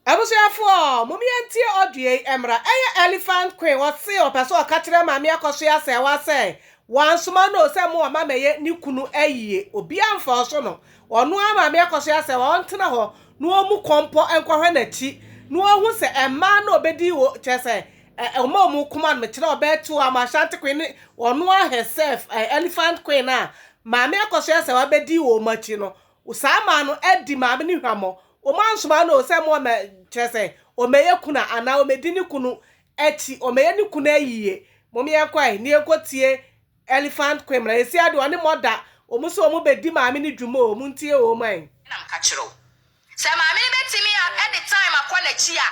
Abusuafoɔ mom yɛntie audio yi mmra. Ɛyɛ Elephant Queen ɔse ɔpɛ sɛ ɔka kyerɛ Maame Akɔsoɛ Asɛɛwa sɛ wansoma no o sɛ mo ɔma mɛyɛ ne kunu ayie obiaa mfa ɔso no ɔno ara Maame Akɔsoɛ Asɛɛwa ɔntena hɔ na ɔmu kɔmpɔ nkɔhwɛ nakyi na ɔhu sɛ ɛmmaa na ɔbɛdi o kyerɛ sɛ ɔma ɔmu koma no mekyerɛ ɔbɛɛ to ama Ashanti Queen ne ɔno ara herself Elephant Queen a Maame Akɔsoɛ Asɛɛwa bɛdi o ɔmu akyi no O saa maa no adi maame no hwammɔ. Wɔansoma no o sɛ mmoa ma, kyerɛ sɛ, ɔmmɛyɛ kuna anaa ɔmmɛdi ne kunu akyi, ɔmmɛyɛ ne kunu ayiyie. Mom yɛnkɔ ɛ, na yɛnkɔtie Elephant Queen mmra. Ɛnsi ade, ɔne mɔ da. Wɔn nso wɔbɛdi maame no dwuma o, montie wɔn ɛ. Ɛna meka kyerɛ wo sɛ maame no bɛtumi a de time akɔ n'akyi a,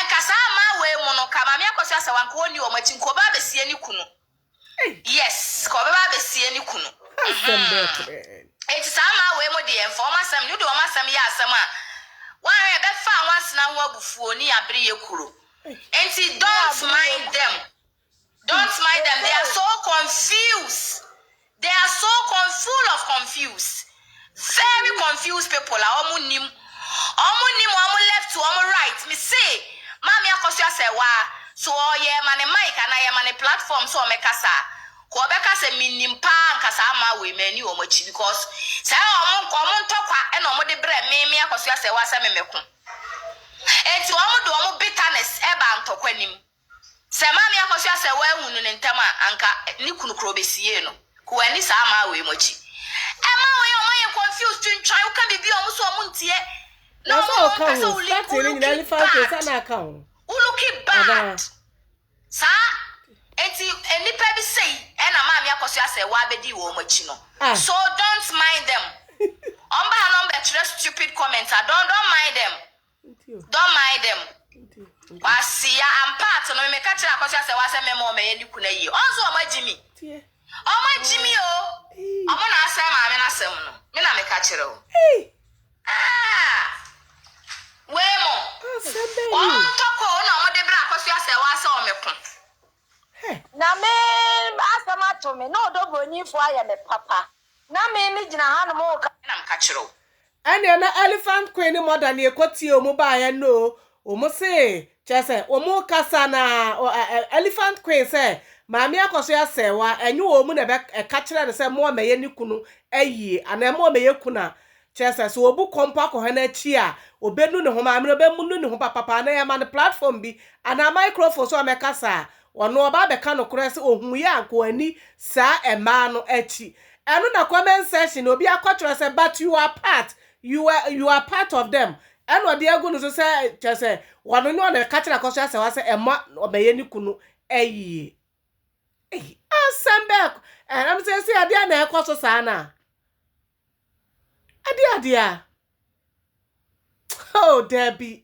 nka saa mmaa wei mu no, nka maame akɔsoa sɛ wo anka ɔnni wɔn akyi, nka ɔbaa bɛsie ne kunu. Yes ka ɔbɛba abɛsie ne kunu hmm enti saa mmaa wei mo deɛ mfa wɔn asɛm wode wɔn asɛm yɛ asɛm a woanhwɛ ɛbɛfa nwansena ho abufuo ne abereɛ kuro enti don't mind them don't mind them they are so confused they are so con full of confused Very confused people a ɔmo nnim ɔmo nnim ɔmo left to ɔmo right me se maame akɔso asɛwaa so ɔɔ yɛ ma ne mic anaa yɛ ma ne platform sɛ ɔmɛ kasa a ko ɔbɛ ka sɛ me nnim paa anka saa maa wei mani ɔmo akyi because saa yɛ ɔmo nka ɔmo ntɔkwa ɛna ɔmo de brɛ me me akɔso asɛwaa sɛ me mɛ ko enti ɔmo de ɔmo bitterness ɛba ntɔkwa nim. Sɛ Maame Akosua sɛ wɔahu no no ntɛm a, anka ne kunu kora ɔbɛsiee no. Ku wanni saa amaa wei mu akyi. Ɛma wei ɔma yɛ confused twintwan, woka biribi a ɔmo so ɔmo ntie. Na ɔmo na ɔmpɛ sɛ wo link, wo looki bad. Wo looki bad. Saa enti nnipa bi sei ɛna Maame Akosua sɛ w'abɛdi wɔn akyi no. So don't mind them. Ɔmo ba ha na ɔmo bɛtwerɛ stupid comments a, don't, don't mind them. Dɔ mae dɛ m'. Ɔase ya ampaatse no, me mekã kyerɛ akɔsua sɛ ɔasɛ me ma ɔmɛyɛ no kun ayie. Ɔn so ɔmagye me? Ɔmagye me o! Ɔmo na asɛɛ maame no asɛm no, me na mekã kyerɛ wo. Aah! Wei mo, wɔntɔ kɔ o na ɔmo de brɛ akɔsua sɛ ɔasɛ ɔmɛko. Na me asɛm ato me, na ɔdɔ bronimfoɔ ayɛ me papa. Na me megyina hanom reka. Me na mekã kyerɛ wo. Ɛneɛ na Elephant Queen ne Mother ne ɛkɔ tie wɔn baeɛ no o, wɔn se kyerɛ sɛ wɔn rekasa na Elephant Queen sɛ Maame akɔ so asɛe wo a, ɛnye wɔn na ɛka kyerɛ no sɛ mo a mɛyɛ ne kunu ayie anaa mo a mɛyɛ kunu a, kyerɛ sɛ sɛ ɔbu kɔ mpo akɔhwɛ no akyi a, ɔbɛnu ne ho, Maame no ɔbɛnu ne ho papapa anaa yɛma no platform bi anaa microphone so a mɛkasa a, Ɔno ɔba abɛka nokorɛ sɛ ɔhuuiɛ a anka wanni saa mmaa no akyi. Ɛno na comment section no obi akɔtwerɛ sɛ but you are part, you are, you are part of them ɛna ɔde agu no so sɛ kyerɛ sɛ ɔno ne ɔna ɛka kyerɛ Akɔso Asawa sɛ ɛmma ɔbɛyɛ ne kunu ayie. Ei, asɛm bɛɛ kɔ ɛnam sɛ ɛsi adeɛ na ɛkɔ so saa no a. Adeɛ adeɛ a. Oh, daabi.